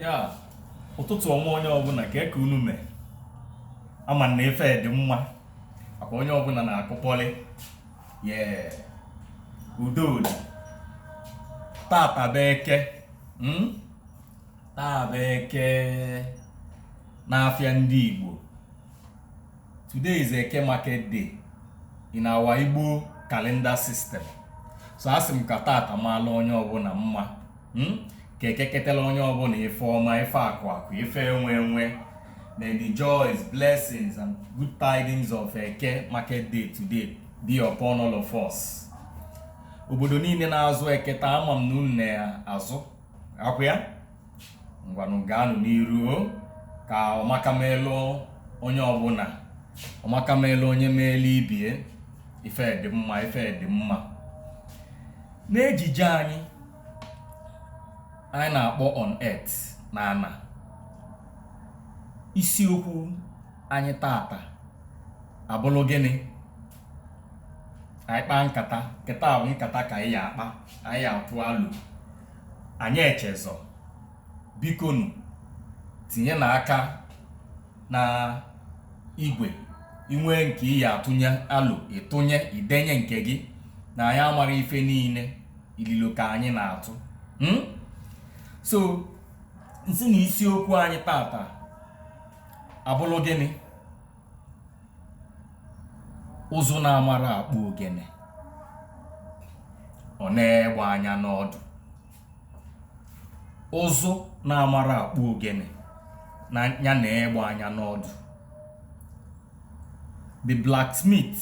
ya ụtụtụ ọma onye ọbụna kee ka unu mee ama m na ife dị mma maka onye ọbụna na-akụkọrị ye udo dị tata bụ eke hmm? taa bụ eke n'afịa ndị Igbo today is eke market day in our Igbo calendar system so asị m ka tata maalụ onye ọbụna mma hmm? ka eke ketelụ onye ọbụna ife ọma ife akụ akụ ife enwe enwe may the joys blessings and good tidings of eke market day today be upon all of us obodo niile na-azụ eke taa ama m na unu na-azụ ọkwa ya ngwanụ gaanụ n'iru ka ọmaka melụ onye ọbụna ọmaka melụ onye meelu ibe ya ife dị mma ife dị mma n'ejije anyị anyị na-akpọ on earth na ana isiokwu anyị tata abụlụ gịnị anyị kpaa nkata nkata bụ nkata ka anyị ya-akpa anyị ya-atụ alo anyị echezọ bikonu tinyenụ aka n'igwe i nwee nke ị ya-atụnye alo ị tụnye i denye nke gị na anyị amara ife niile ililo ka anyị na-atụ hmm? so m sị na isiokwu anyị tata abụlụ gịnị ụzụ na-amara akpụ ogene ọ nee egbe anya n'ọdụ ụzụ na-amara akpụ ogene na nya nee egbe anya n'ọdụ the blacksmith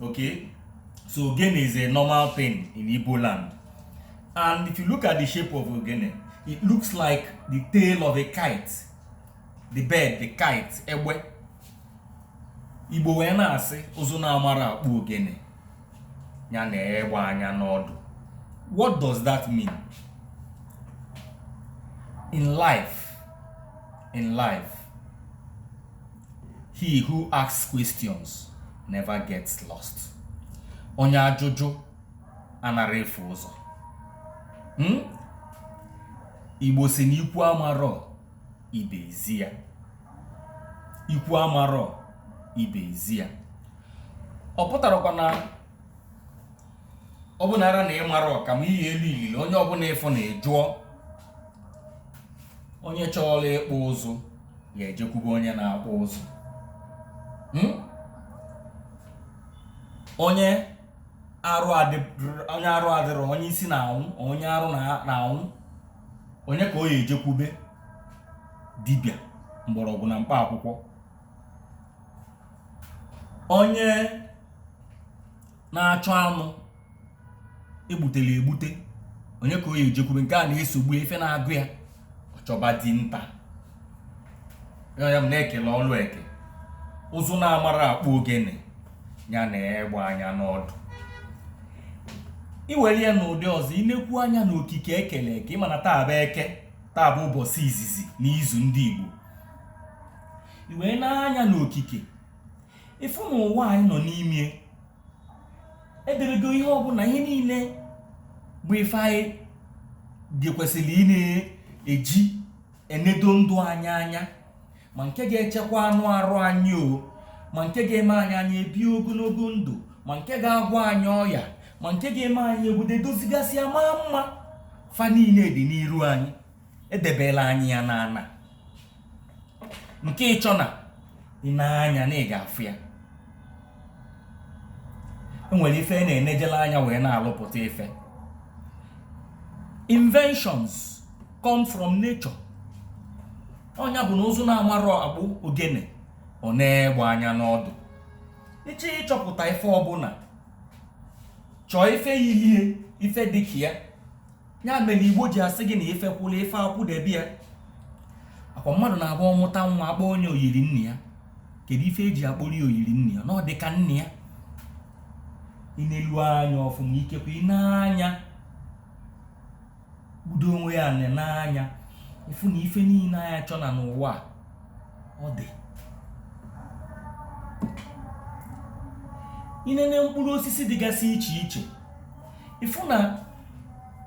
Okay, so ogene is a normal thing in Igbo land. And if you look at the shape of ogene, it looks like the tail of a kite. The bird, the kite, egbe. Igbo wee na-asị ụzụ na-amara akpụ ogene nya nee egbe anya n'ọdụ. What does that mean? In life, in life, He who asks questions never gets lost. Onye ajụjụ anara efu ụzọ. Hmm? Igbo sị na ikwu amarọ ibe ezi ya. Ikwu amarọ ibe ezi ya. Ọ pụtarakwa na ọ bụ nara na ị marọ ka m ihe elu ilili onye ọbụna ị fụ na ị jụọ onye chọọla ịkpụ ụzụ ya ejekwube onye na-akpụ ụzụ hmm? onye arụ adịrọ onye isi na-anwụ onye arụ na-anwụ onye ka ọ ya ejekwube dibịa mgbọrọgwụ na mkpa akwụkwọ onye na-achọ anụ egbutele egbute onye ka ọ ya ejekwube nke a na-esogbu ya ife na-agụ ya ọ chọba dinta ya ya m na-ekele ọlụ eke ụzụ na-amarọ akpụ ogene ya nee egbe anya n'ọdụ i were ya n'ụdị ọzọ i nekwuo anya n'okike ekele eke ị ma na taa bụ eke taa bụ ụbọchị izizi n'izu ndị Igbo i wee nee anya n'okike ị fụ na ụwa anyị nọ n'ime edebego ihe ọbụna ihe niile bụ ife anyị ga-ekwesịrị ịna-eji enedo ndụ anyị anya ma nke ga-echekwa anụ arụ anyị o ma nke ga-eme anyị anyị ebi ogonogo ndụ ma nke ga-agwọ anyị ọya ma nke ga-eme anyị obodo dozigasịa maa mma fa niile dị n'iru anyị edebela anyị ya n'ana nke ị chọọ na i nee anya na ị ga-afụ ya e nwere ife na-enejela anya wee na-alụpụta ife inventions come from nature ọ nya bụ na ụzụ na-amarọ akpụ ogene o nee egbe anya n'ọdụ ị chọọ ịchọpụta ife ọbụna chọọ ife yili ya ife dịka ya ya mere igbo ji asị gị na ife kwụla ife akwụdebe ya akwa mmadụ na-abụ ọ mụta nwa akpọ onye oyiri nne ya kedu ife eji akpọrọ ya oyiri nne ya na ọ dị ka nne ya i nelu anya ọfụma ikekwa i nee anya budo onwe ya na n'anya ị fụ na ife niile anyị chọ na n'ụwa ọ dị i nene mkpụrụ osisi dịgasị iche iche ị fụ na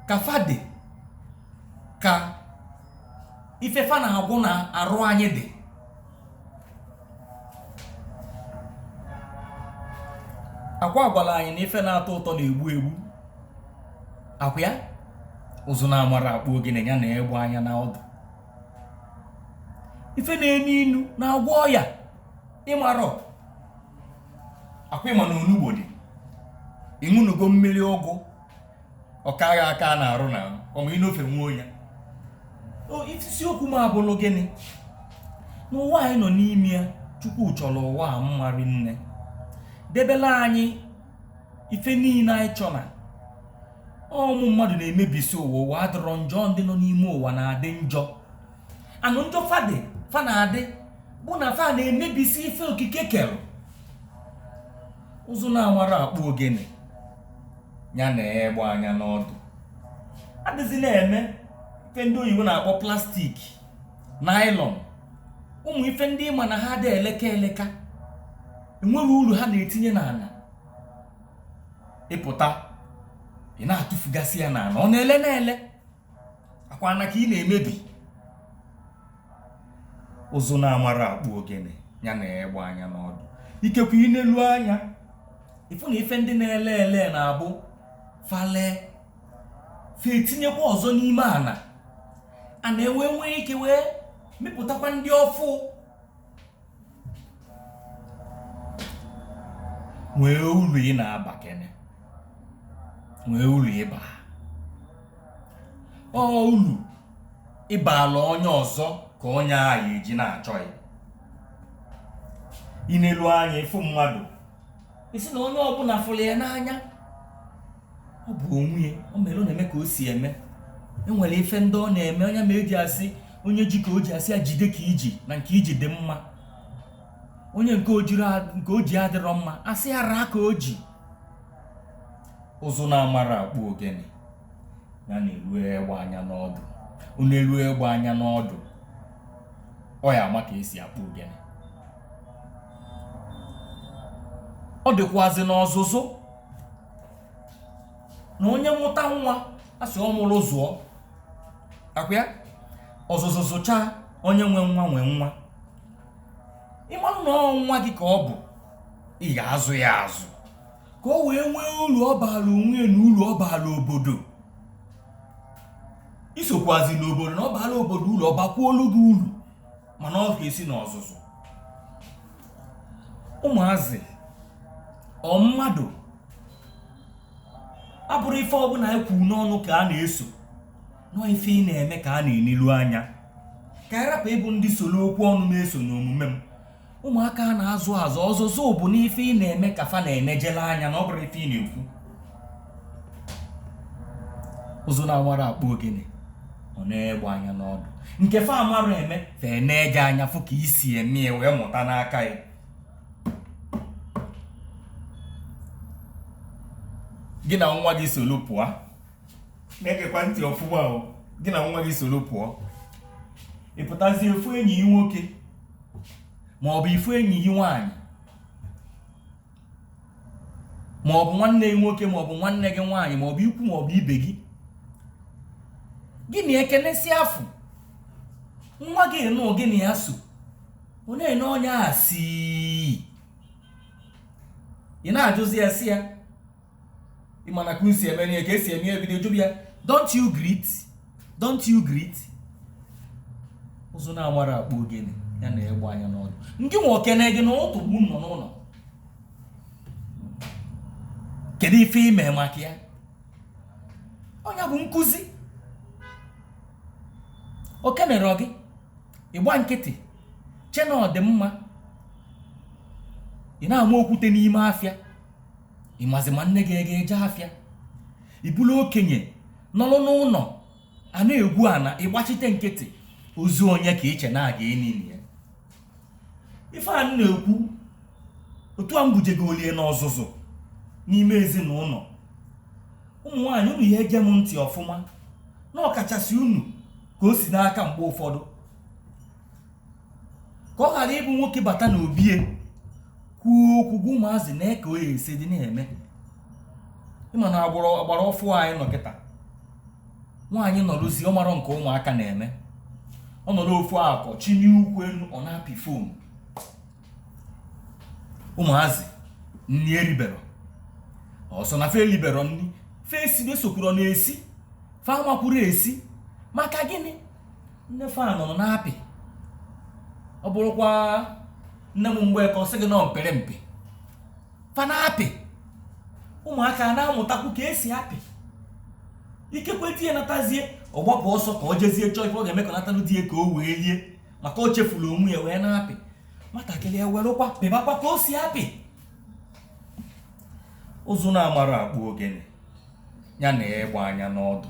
ka fa dị ka ife fa na-agwọ na arụ anyị dị akwa a gwara anyị na ife na-atọ ụtọ na-egbu egbu akwa ya ụzụ na-amarọ akpụ ogene ya nee egbe anya na ọdụ ife na-enu inu na-agwọ ọya ị marọ akwa ị ma na onugbu dị ị ṅụnugo mmiri ọgwụ ọ kaghị aka a na-arụ na ọma inofe nwa onye isiokwu m abụrụ gịnị n'ụwa anyị nọ n'ime ya chukwu chọrọ ụwa a mma rinne debela anyị ife niile anyị chọ na ụmụ mmadụ na-emebisi ụwa ụwa adịrọ njọ ndị nọ n'ime ụwa na-adị njọ and njọ fa dị fa na-adị bụ na fa na-emebisi ife okike kere ụzụ na-amarọ akpụ ogene ya nee egbe anya n'ọdụ adịzi na-eme ife ndị oyibo na-akpọ plastik naịlọn ụmụ ife ndị ị ma na ha adị eleka eleka enweghị uru ha na-etinye n'ana ị pụta ị na-atụfugasị ya n'ana ọ na-ele na-ele ọ kwa ana ka ị na-emebi ụzụ na-amarọ akpụ ogene ya nee egbe anya n'ọdụ ikekwe ị nelu anya ị fụ na ife ndị na-ele ele na-abụ fa lee fa etinyekwa ọzọ n'ime ana ana ewee nwee ike wee mepụtakwa ndị ọfụụ nwee uru ị na-aba kene nwee uru ị ba ọ uru ị baala onye ọzọ ka onye ahụ eji na-achọ gị ị nelu anya ị fụ mmadụ ị sị na onye ọbụna fụrụ ya n'anya ọ bụ onwe ya o mere ọ na-eme ka o si eme enwere ife ndị ọ na-eme ọ nya mee e ji asị onye ji ka o ji asị ya jide ka i ji na nke i ji dị mma onye nke o ji adịrọ mma asị ya raa ka o ji ụzụ na-amarọ akpụ ogene ya nelu egbe anya n'ọdụ ọ nelu egbe anya n'ọdụ ọ ya-ama ka e si akpụ ogene ọ dịkwazị n'ọzụzụ na onye mụta nwa asị ọ mụrụ zụọ ọ kwa ya ọzụzụ zụchaa onye nwe nwa nwe nwa ị marụ na ọ nwa gị ka ọ bụ ị ya-azụ ya azụ ka o wee nwee uru ọ baara onwe ya na uru ọ baara obodo i sokwuazi n'obodo na ọ baara obodo uru ọ bakwuolu gị uru mana ọ ga-esi n'ọzụzụ ụmụazị ọ mmadụ ọ bụrọ ife ọbụna anyị kwuru n'ọnụ ka a na-eso na ọ ife ị na-eme ka a na-enilu anya ka anyị rapụ ịbụ ndị soro okwu ọnụ na-eso n'omume m ụmụaka a na-azụ azụ ọzụzụ bụ n'ife ị na-eme ka fa na-enejele anya na ọ bụrọ ife ị na-ekwu ụzụ na-amarọ akpụ ogene ọ nee egbe anya n'ọdụ nke fa amarọ eme fa na-eji anya fụ ka i si eme ya wee mụta n'aka gị gị na nwa gị soro pụọ na-egekwa ntị ọfụma o gị na nwa gị soro pụọ ị pụtazie ị fụ enyi gị nwoke ma ọ bụ ị fụ enyi gị nwaanyị ma ọ bụ nwanne gị nwoke ma ọ bụ nwanne gị nwaanyị ma ọ bụ ikwu ma ọ bụ ibe gị gị na ya ekenesịa fụ nwa gị nụ gị na ya so ọ na-ene onye a si ị na-ajụzi ya sị ya ị ma na ka unu si eme n'ihe ka esi eme ihe bido jụba ya don't you greet don't you greet ụzụ na-amarọ akpụ ogene ya nee egbe anya n'ọdụ gịnwa o kene gị n'ụtụtụ mgbe unu nọ n'ụnọ kedu ife i me maka ya onye bụ nkuzi o kenerọ gị ị gba nkịtị che na ọ dị mma ị na-ama okwute n'ime afịa ị mazi ma nne gị aga-eje afịa ị bụlụ okenye nọrọ n'ụnọ a na-egwu ana ị gbachite nkịtị ozu onye ka i che na a ga-enili ya ife anyị na-ekwu otu a mbujego olie n'ọzụzụ n'ime ezinaụnọ ụmụ nwaanyị unu na-ege m ntị ọfụma na ọkachasị unu ka o si n'aka mgbe ụfọdụ ka ọ ghara ịbụ nwoke bata n'obi ya kwuo okwu gwa ụmụazị na eke o ya esi dị na-eme ị ma na agbụrụ ọgbara ọfụụ anyị nọ kịta nwaanyị nọrụzi ọ marọ nke ụmụaka na-eme ọ nọrọ ofu akọ chinie ụkwụ enu ọ na-apị fon ụmụazị nni eriberọ ọ sọ na fa eliberọ nni fa esibe sokwuru na-esi fa amakwurọ esi maka gịnị nne fa nọ na-apị ọ bụrụkwa nne m mgbe ka ọ sị gị na apịrị mpị fa na-apị ụmụaka na-amụtakwu ka esi apị ikekwe di ya natazie ọ gbapụ ọsọ ka ọ jezie chọọ ife ọ ga-eme ka natanụ di ya ka o wee lie maka o chefuru onwe ya wee na-apị nwatakịrị ewerụkwa pịbakwa ka o si apị ụzụ na-amarọ akpụ ogene ya nee egbe anya n'ọdụ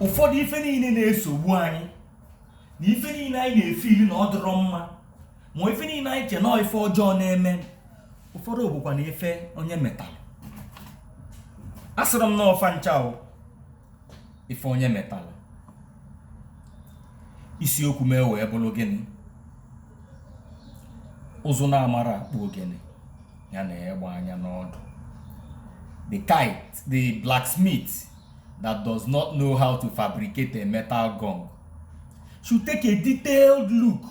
ụfọdụ ife niile na-esogbu anyị na ife niile anyị na-efe ili na ọ dịrọ mma ma ife niile anyị che na ọ ife ọjọọ na-eme ụfọdụ bụkwa na ife onye metalụ asịrọ m na ọ fa ncha ife onye metalụ isiokwu m ewee bụrụ gịnị ụzụ na-amarọ akpụ ogene ya na ịgba anya n'ọdụ the kite the blacksmith that does not know how to fabricate a metal gong should take a detailed look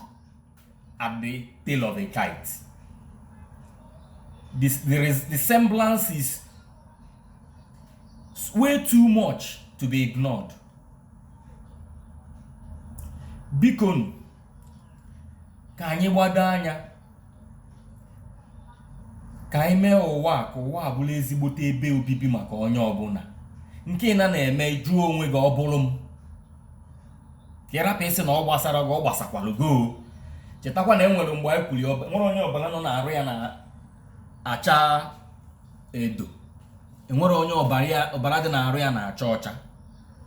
at the tail of a kite this the, res- the semblance is s- way too much to be ignored bikonu ka anyị gbado anya ka anyị mee ụwa ka ụwa a bụlụ ezigbote ebe obibi maka onye ọbụla nke ị na-eme jụọ onwe gị ọ bụrụ m ka ị rapụ ịsị na ọ gbasarọ gị ọ gbasakwara gị o chetakwa na e nwere mgbe anyị kwuru enwerọ onye ọbala nọ n'arụ ya na-acha edo enwerọ onye ọbara dị n'arụ ya na-acha ọcha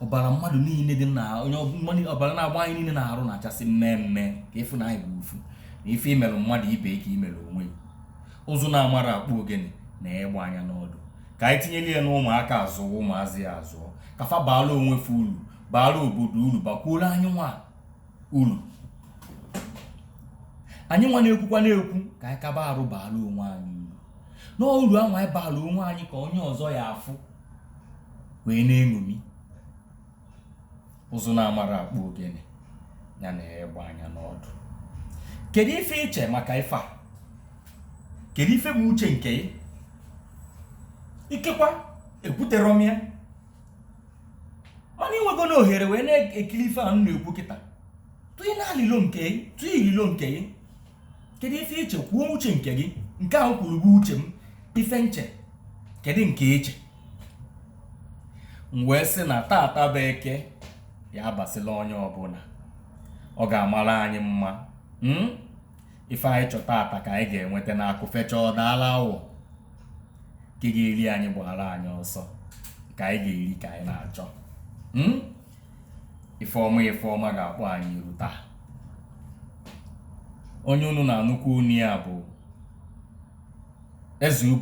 ọbara mmadụ niile dị na onye ọbara na-agba anyị niile n'arụ na-achasị mmee mmee ka ị fụ na anyị bụ ofu na ife i merụ mmadụ ibe ka i merụ onwe i ụzụ na-amarọ akpụ ogene nee egbe anya n'ọdụ ka anyị tinyere ya n'ụmụaka a zụọ ụmụazị a azụọ ka fa baara onwe fa uru baara obodo uru bakwuoro anyị nwa uru anyị nwa na-ekwukwa na-ekwu ka anyị kaba arụ baara onwe anyị uru na uru ahụ anyị baara onwe anyị ka onye ọzọ ya-afụ wee na-eṅomi ụzụ na-amarọ akpụ ogene ya nee egbe anya n'ọdụ kedu ife i che maka ife a kedu ife bụ uche nke i ikekwa ekwuterọ m ya mana i nwegonụ ohere wee na-ekiri ife a m na-ekwu kịta tụị na ililo nke i tụị ililo nke i kedu ife i che kwuo uche nke gị nke ahụ kwuru bụ uche m ife m che kedu nke i che m wee sị na tata bụ eke ya abasịla onye ọbụla ọ ga-amara anyị mma hmm? ife anyị chọ tata ka anyị ga-enweta na akụ fechaa ọ daala awọ nke ga-eri anyị gbaara anyị ọsọ nke anyị ga-eri ka anyị na-achọ hmm? ife ọma ife ọma ga-akpọ anyị iru taa onye unu na-anụ okwu ọnụ ya bụ eze ubu